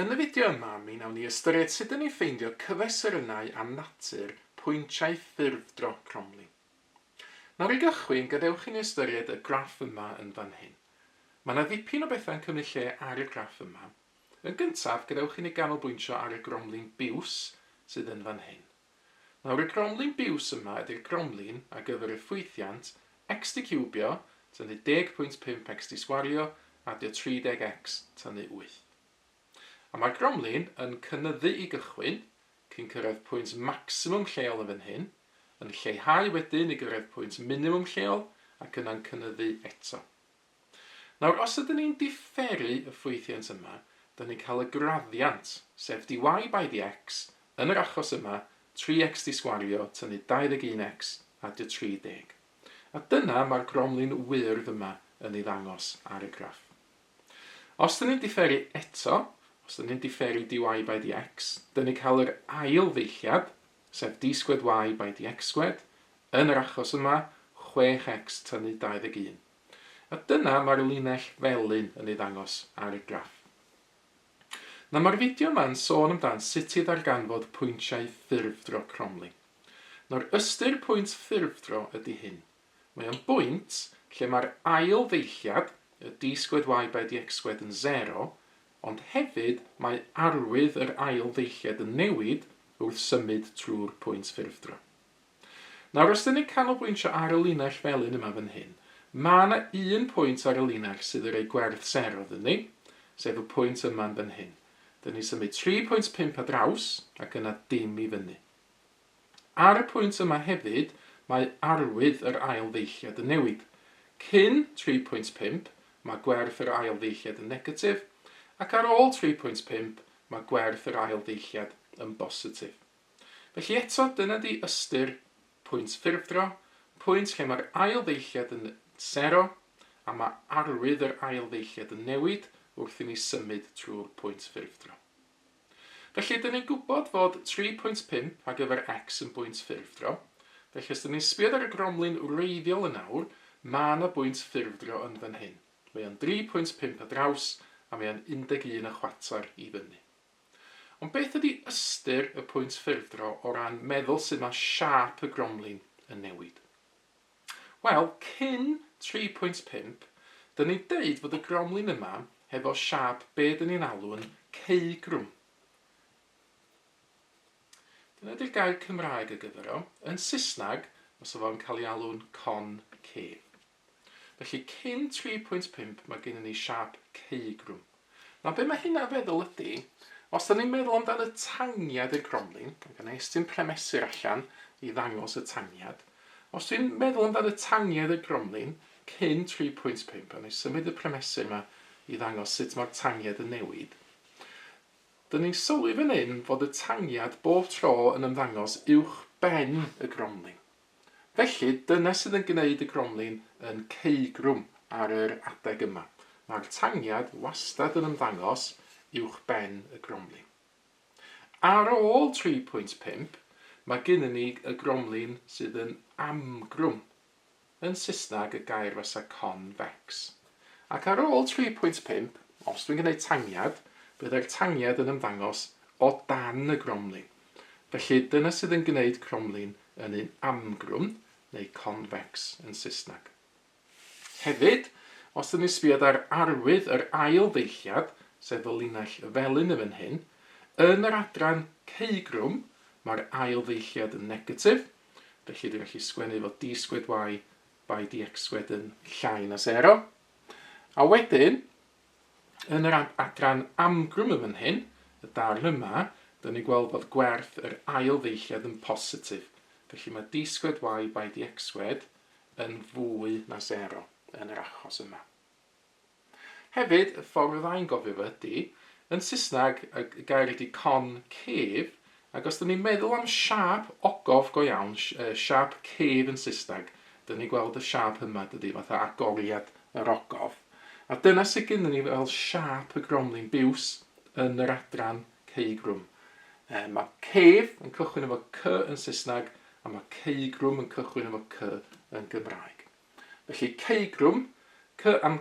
Yn y fideo yma, mi wnawn ni ystyried sut dyn ni'n ffeindio cyfesurynnau am natur pwyntiau ffurfdro Cromley. Nawr i gychwyn, gadewch i ni ystyried y graff yma yn fan hyn. Mae yna ddipyn o bethau'n cymryd lle ar y graff yma. Yn gyntaf, gadewch i ni ganolbwyntio ar y Gromley'n biws sydd yn fan hyn. Nawr y gromlin biws yma ydy'r gromlin ar gyfer y ffwythiant xd ciwbio, tynnu 10.5 xd sgwario, adio 30x, tynnu 8. A mae'r gromlin yn cynyddu i gychwyn, cyn cyrraedd pwynt maximum lleol yn fan hyn, yn lleihau wedyn i gyrraedd pwynt minimum lleol ac yna'n cynyddu eto. Nawr, os ydyn ni'n diferu y ffwythiant yma, dan ni'n cael y graddiant, sef dy by dx, yn yr achos yma, 3x dy sgwario tynnu 21x a dy 30. A dyna mae'r gromlin wyrdd yma yn ei ddangos ar y graff. Os dan ni'n diferu eto, os dan ni'n diferu dy by dx, dan ni'n cael yr ail ddeilliad, sef dy sgwed y by dx sgwed, yn yr achos yma, 6x tynnu 21. A dyna mae'r linell felyn yn ei ddangos ar y graff. Nawr mae'r fideo yma'n sôn amdan sut i ddarganfod pwyntiau ffurfdro cromlin. Nawr ystyr pwynt ffurfdro ydy hyn. Mae o'n bwynt lle mae'r ail ddeilliad, y d sgwed y by dx sgwed yn sero, ond hefyd mae arwydd yr ail ddeilliad yn newid wrth symud trwy'r pwynt ffurfdro. Nawr os dan ni'n canolbwyntio ar y linell felyn yma fan hyn, mae yna un pwynt ar y linell sydd yn rhoi gwerth sero iddyn ni, sef y pwynt yma yn fan hyn. Dan ni'n symud 3.5 ar draws ac yna dim i fyny. Ar y pwynt yma hefyd, mae arwydd yr ail ddeilliad yn newid. Cyn 3.5, mae gwerth yr ail ddeilliad yn negatif, ac ar ôl 3.5, mae gwerth yr ail ddeilliad yn bositif. Felly eto, dyna 'di ystyr pwynt ffurfdro, pwynt lle mae'r ail ddeilliad yn sero, a mae arwydd yr ail ddeilliad yn newid wrth i ni symud trwy'r pwynt ffurfdro. Felly, dyn ni'n gwybod fod 3.5 ar gyfer x yn bwynt ffurfdro, felly os dyn ni'n sbïod ar y gromlin wreiddiol yn awr, mae yna bwynt ffurfdro yn fan hyn. Mae o'n 3.5 ar draws, a mae o'n 11 y chwarter i fyny. Ond beth ydi ystyr y pwynt ffurfdro o ran meddwl sut mae siâp y gromlin yn newid? Wel, cyn 3.5, dyn ni'n deud fod y gromlin yma hefo siâp be dyn ni'n alw'n ceugrwm. Dyna ydy'r gair Cymraeg ar gyfer o. Yn Saesneg, fysa fo'n cael ei alw'n concave. Felly cyn 3.5 mae gennyn ni siâp cei grwn. Nawr be mae hynna'n feddwl ydy, os da ni'n meddwl amdan y tangiad i'r gromlin, mae gen i estyn premesur allan i ddangos y tangiad, os dwi'n meddwl amdan y tangiad i'r gromlin cyn 3.5, a ni'n symud y premesur yma i ddangos sut mae'r tangiad yn newid, Dyn ni'n sylwi fan hyn fod y tangiad bob tro yn ymddangos uwch ben y gromlin. Felly, dyna sydd yn gwneud y gromlin yn ceugrwm ar yr adeg yma. Mae'r tangiad wastad yn ymddangos uwch ben y gromlin. Ar ôl 3.5, mae gynnon ni y gromlin sydd yn amgrwm, yn Saesneg y gair fasa convex. Ac ar ôl 3.5, os dwi'n gwneud tangiad, byddai'r tangiad yn ymddangos o dan y gromlin. Felly, dyna sydd yn gwneud cromlin yn un amgrwm neu convex yn Saesneg. Hefyd, os ydyn ni'n sbio ar arwydd yr ail ddeilliad, sef y linell felyn yn fan hyn, yn yr adran ceugrwm mae'r ail ddeilliad yn negatif, felly dwi'n gallu sgwennu fod d sgwed y by dx sgwed yn llai na 0. A wedyn, Yn yr adran amgrwm yn fan hyn, y darn yma, dyn ni'n gweld bod gwerth yr ail ddeilliad yn positif. Felly mae d sgwed y by d xsgwed yn fwy na 0 yn yr achos yma. Hefyd, y ffordd fyddai'n gofio fo ydy, yn Saesneg, y gair ydy con cave, Ac os 'dyn ni'n meddwl am siâp ogof go iawn, siâp cave yn Saesneg, 'dyn ni'n gweld y siâp yma, dydi, fatha agoriad yr ogof. A dyna sut gynnon ni fel siâp y gromlin biws yn yr adran ceugrwm. Yy ma' cave yn cychwyn efo cy yn Saesneg a ma' ceugrwm yn cychwyn efo cy yn Gymraeg. Felly ceugrwm, cy am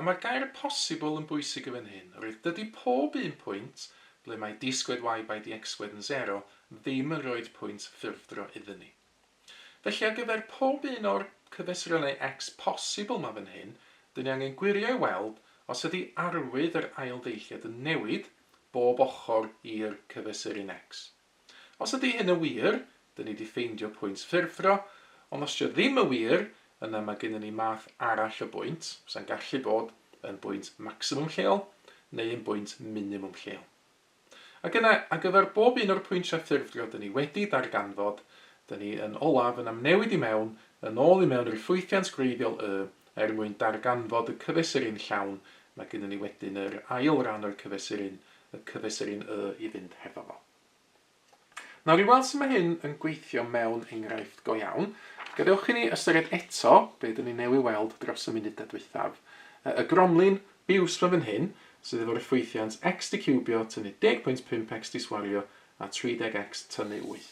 A mae'r gair 'posibl' yn bwysig yn fan hyn, oherwydd dydy pob un pwynt, ble mae d squared y by d x-squared yn sero, ddim yn rhoid pwynt ffurfdro iddyn ni. Felly ar gyfer pob un o'r cyfesurynnau x posibl 'ma fan hyn, dyn ni angen gwirio i weld os ydy arwydd yr ailddeilliad yn newid bob ochr i'r cyfesurin x. Os ydy hyn yn wir, dyn ni 'di ffeindio pwynt ffurfdro, ond os 'di o ddim yn wir, yna mae gennyn ni math arall o bwynt, sa'n gallu bod yn bwynt maximum lleol neu yn bwynt minimum lleol. Ac yna, ar gyfer bob un o'r pwyntiau ffurfdro dyn ni wedi darganfod, dyn ni yn olaf yn amnewid i mewn, yn ôl i mewn i'r ffwythiant gwreiddiol Y, er mwyn darganfod y cyfesurin llawn, mae gennyn ni wedyn yr ail ran o'r cyfesurin, y cyfesurin y i fynd hefo fo. Nawr i weld sut mae hyn yn gweithio mewn enghraifft go iawn, gadewch i ni ystyried eto be dyn ni newy weld dros y munudau dwythaf. Y gromlin biws ma fan hyn, sydd efo rhyffwythiant x dicubio tynnu 10.5 x diswario a 30 x tynnu 8.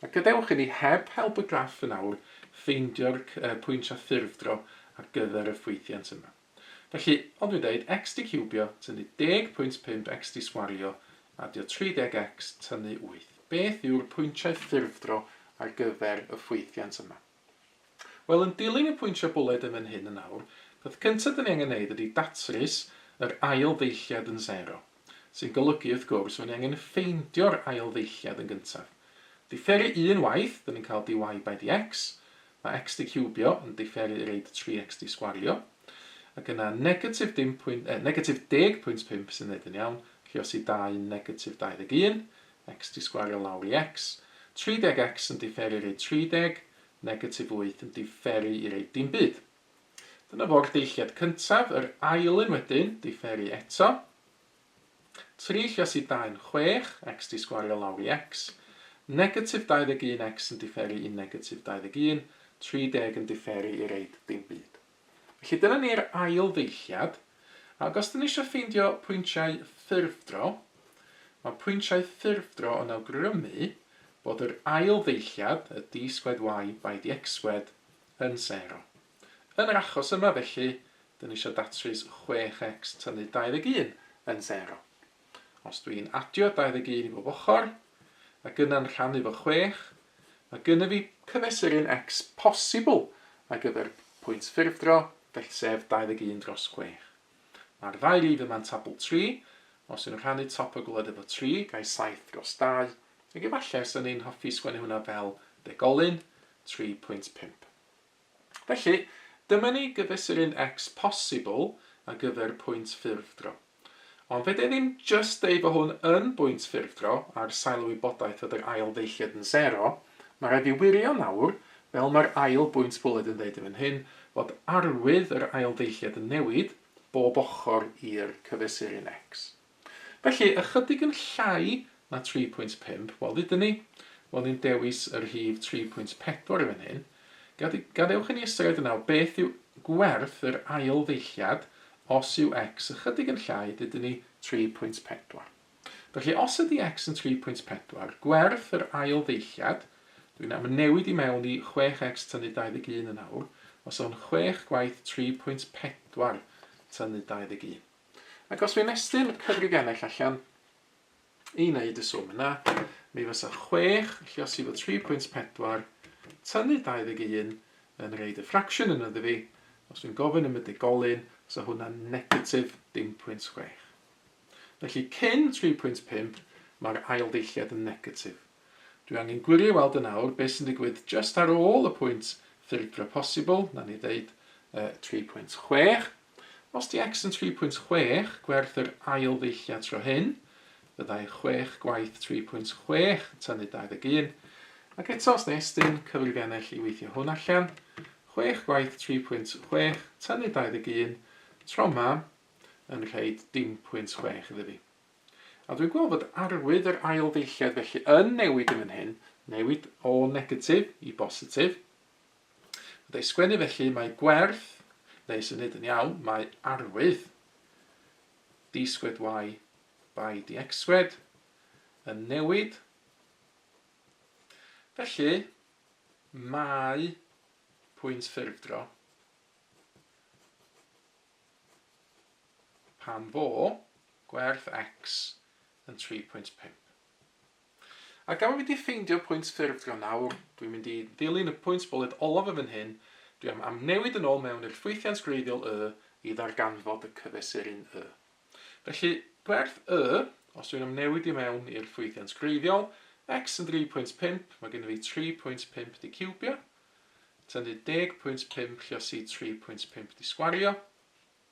A gadewch i ni, heb help y graff yn awr, ffeindio'r pwyntiau ffurfdro ar gyfer y rhyffwythiant yma. Felly, fel dwi'n deud, xd ciwbio, tynnu 10.5 xd sgwario, adio 30x, tynnu 8. Beth yw'r pwyntiau ffurfdro ar gyfer y ffwythiant yma? Wel, yn dilyn y pwyntiau bwled yn fan hyn yn awr, peth cyntaf 'da ni angen neud ydi datrys yr ail ddeilliad yn sero. sy'n golygu, wrth gwrs, fod ni angen ffeindio'r ail ddeilliad yn gyntaf. Diferu un waith, dyn ni'n cael dy by dx, mae xd ciwbio yn diferu i reid 3x dy sgwario, ac yna negatif 10 pwynt, eh, negatif 10 pwynt 5 sy'n neud yn iawn, felly os i 2 negatif 21, x dy sgwario lawr i x, 30x yn diferu i reid 30, negatif 8 yn diferu i reid dim byd. Dyna fo'r deilliad cyntaf, yr ail un wedyn, diferu eto. 3 lluos i 2 yn 6, x 'di sgwario lawr i x. Negatif 21 x yn diferu i negatif 21, 30 yn diferu i reid dim byd. Felly dyna ni'r ail ddeilliad, ac os 'dyn ni eisiau ffeindio pwyntiau ffurfdro, mae pwyntiau ffurfdro yn awgrymu bod yr ail ddeilliad, y d squared y by dx squared, yn sero. Yn yr achos yma felly, dyn ni eisiau datrys 6x tynnu 21 yn sero. Os dw i'n adio 21 i bob ochr, ac yna'n rhannu fo 6, mae gynnyf i cyfesuru'n x posibl ar gyfer pwynt ffurfdro, felly sef 21 dros 6. Mae'r ddau rif yma'n tabl 3, os yw'n rhannu top y gwled efo 3, gai 7 dros 2, ac efallai os ydyn ni'n hoffi sgwennu hwnna fel degolyn, 3.5. Felly, dyma ni gyfesuru'n X posibl ar gyfer pwynt ffurfdro. Ond fedra i ddim jyst deud bod hwn yn bwynt ffurfdro ar sail y wybodaeth fod yr ail ddeilliad yn sero, mae rhaid fi wirio nawr, fel mae'r ail bwynt bwled yn dweud yn fan hyn, fod arwydd yr ail ddeilliad yn newid bob ochr i'r cyfesuru'n X. Felly, ychydig yn llai na 3.5, wel, hyd yn ni, wel, ni'n dewis y rhif 3.4 yn fan hyn. Gad, gadewch i ni ystyried yn awr beth yw gwerth yr ail ddeilliad os yw x ychydig yn llai, dydyn ni, 3.4. Felly, os ydy x yn 3.4, gwerth yr ail ddeilliad, dwi'n am newid i mewn i 6x tynnu 21 yn awr, os o'n 6 gwaith 3.4 tynnu 21. Ac os fi'n estyn cyfrif ennill allan i wneud y swm yna, mi fysa 6, felly os i fod 3.4, tynnu 21 yn reid y fraction yn yddi fi, os fi'n gofyn am y digolyn, fysa hwnna'n negatif 0.6. Felly cyn 3.5, mae'r ail ddeilliad yn negatif. Dwi angen gwirio i weld yn awr beth sy'n digwydd just ar ôl y pwynt ffurfdra posibl, na ni ddeud uh, 3.6. Os di X yn 3.6, gwerth yr ail ddeilliad tro hyn, fyddai 6 gwaith 3.6 yn tynnu 21, ac eto os na estyn, cyfrif ennill i weithio hwn allan, 6 gwaith 3.6 tynnu 21, tro ma, yn rhaid dim pwynt 6 iddo fi. A dwi'n gweld fod arwydd yr ail ddeilliad felly yn newid yn fan hyn, newid o negatif i bositif, Wrth ei sgwennu felly mae gwerth, neu sy'n nid yn iawn, mae arwydd, d squared y by dx squared, yn newid. Felly, mae pwynt ffurfdro pan fo gwerth x yn 3.5. Ac am i fi di ffeindio pwynt ffurfio nawr, dwi'n mynd i ddilyn y pwynt bwled olaf yn fan hyn, dwi am amnewid yn ôl mewn i'r ffwythiant gwreiddiol Y i ddarganfod y cyfesurin Y. Felly, gwerth Y, os dwi'n amnewid i mewn i'r ffwythiant gwreiddiol, X yn 3.5, mae gennym fi 3.5 di ciwbio, tynnu 10.5 lluosi 3.5 di sgwario,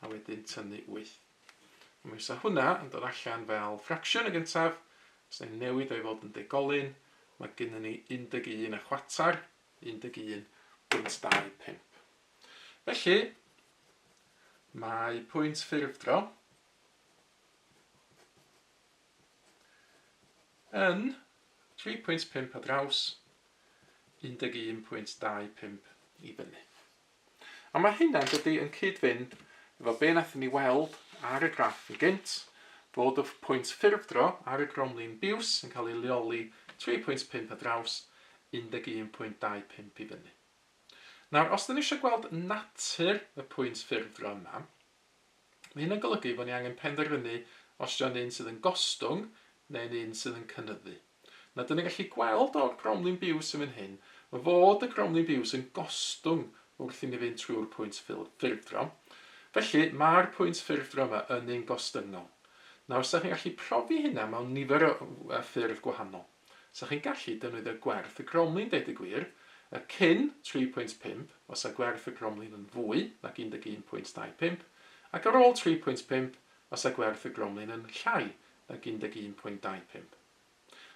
a wedyn tynnu 8. A mi fysa hwnna yn dod allan fel ffracsiwn yn gyntaf, os da ni'n newid o i fod yn degolyn, mae gynnon ni 11 a chwater, 11.25. Felly, mae pwynt ffurfdro yn 3.5 ar draws 11.25 i fyny. A mae hynna yn dydi yn cyd-fynd efo be nathon ni weld ar y graff yn gynt, fod y pwynt ffurfdro ar y gromlin biws yn cael ei leoli 3.5 ar draws 11.25 i fyny. Nawr, os 'dan ni isio gweld natur y pwynt ffurfdro yma, mae hynna'n golygu fo' ni angen penderfynu os 'di o'n un sydd yn gostwng neu'n un sydd yn cynyddu. Na, dan ni'n gallu gweld o'r gromlin biws yn fan hyn, ma' fod y gromlin biws yn gostwng wrth i ni fynd trwy'r pwynt ffurf, ffurfdro. Felly, ma'r pwynt ffurfdro yma yn ein gostyngol. Nawr, 'sa chi'n gallu profi hynna mewn nifer o yy ffyrdd gwahanol. 'Sa chi'n gallu defnyddio gwerth y gromlin, deud y gwir, y cyn 3.5, os a gwerth y gromlin yn fwy nag 11.25, ac ar ôl 3.5, os a gwerth y gromlin yn llai ag 11.25.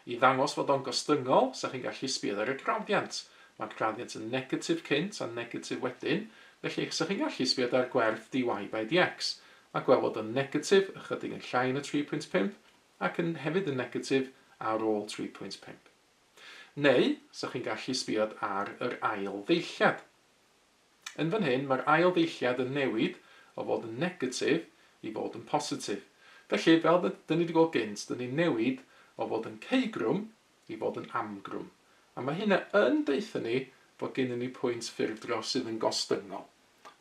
I ddangos fod o'n gostyngol, 'sa chi'n gallu sbiad ar y graddiant. Mae'r graddiant yn negatif cynt a negatif wedyn, felly 'sa chi'n gallu sbiad ar gwerth dy by dx a gweld fod o'n negatif ychydig yn llai na 3.5 ac yn hefyd yn negatif ar ôl 3.5. Neu, 'sa chi'n gallu sbiad ar yr ail ddeilliad. Yn fan hyn, mae'r ail ddeilliad yn newid o fod yn negatif i fod yn positif. Felly, fel d- dyn ni 'di gweld gynt, dyn ni'n newid o fod yn ceugrwm i fod yn amgrwm. A mae hynna yn deutha ni fod gennyn ni pwynt ffurfdro sydd yn gostyngol.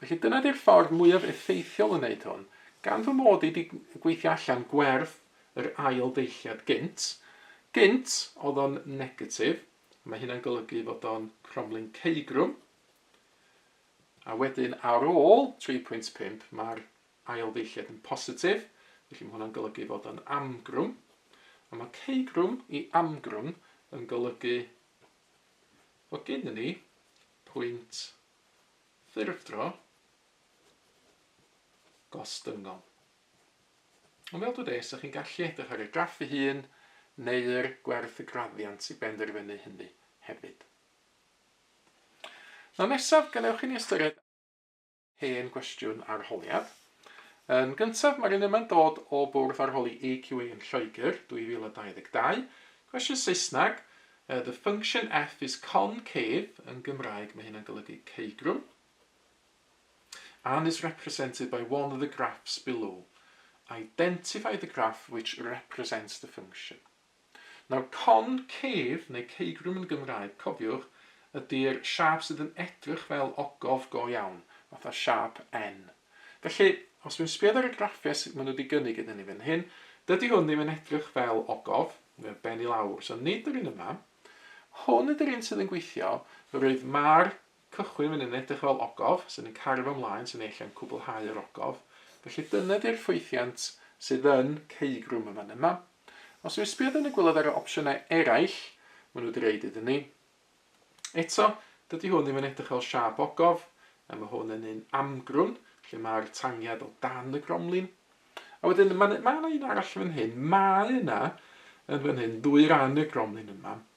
Felly, dyna 'di'r ffordd mwyaf effeithiol o wneud hwn. Gan fy mod i 'di gweithio allan gwerth yr ail ddeilliad gynt, gynt oedd o'n negatif, a mae hynna'n golygu fod o'n cromlin ceugrwm, A wedyn ar ôl 3.5 mae'r ail ddeilliad yn positif, felly mae hwnna'n golygu fod o'n amgrwm. A mae ceugrwm i amgrwm yn golygu bod gennym ni pwynt ffurfdro gostyngol. Ond fel dwi ys chi'n gallu edrych ar y graff ei hun neu'r gwerth y graddiant i benderfynu hynny hefyd. Nawr nesaf, gadewch i ni ystyried hen gwestiwn arholiad. Yn gyntaf, mae'r un yma'n dod o Bwrdd Arholi AQA yn Lloegr, 2022. Cwestiwn Saesneg, uh, the function f is concave, yn Gymraeg mae hynna'n golygu ceugrwm, and is represented by one of the graphs below. Identify the graph which represents the function. Nawr, con cef, neu ceugrwm yn Gymraeg, cofiwch, ydy'r siâp sydd yn edrych fel ogof go iawn, fatha siâp N. Felly, os dwi'n sbïo ar y graffiau sut maen nhw wedi gynnig iddyn ni fan hyn, dydy hwn ddim yn edrych fel ogof, mae o'n ben i lawr, so nid yr un yma. Hwn ydy'r un sydd yn gweithio, roedd Mar Cychwyn fan hyn a edrych ar ôl ogof, sydd yn cario fo ymlaen, sydd neu lle yn cwblhau yr ogof. Felly dyna di'r ffwythiant sydd yn ceugrwm y fan yma. Os dwi'n sbio wedyn a gweld ar yr opsiynau eraill, maen nhw di roid iddyn ni. Eto, dydy hwn ddim yn edrych fel siâp ogof, a mae hwn yn un amgrwn, lle mae'r tangiad o dan y gromlin. A wedyn, mae yna un arall fan hyn, mae yna yn fan hyn ddwy ran y gromlin yma,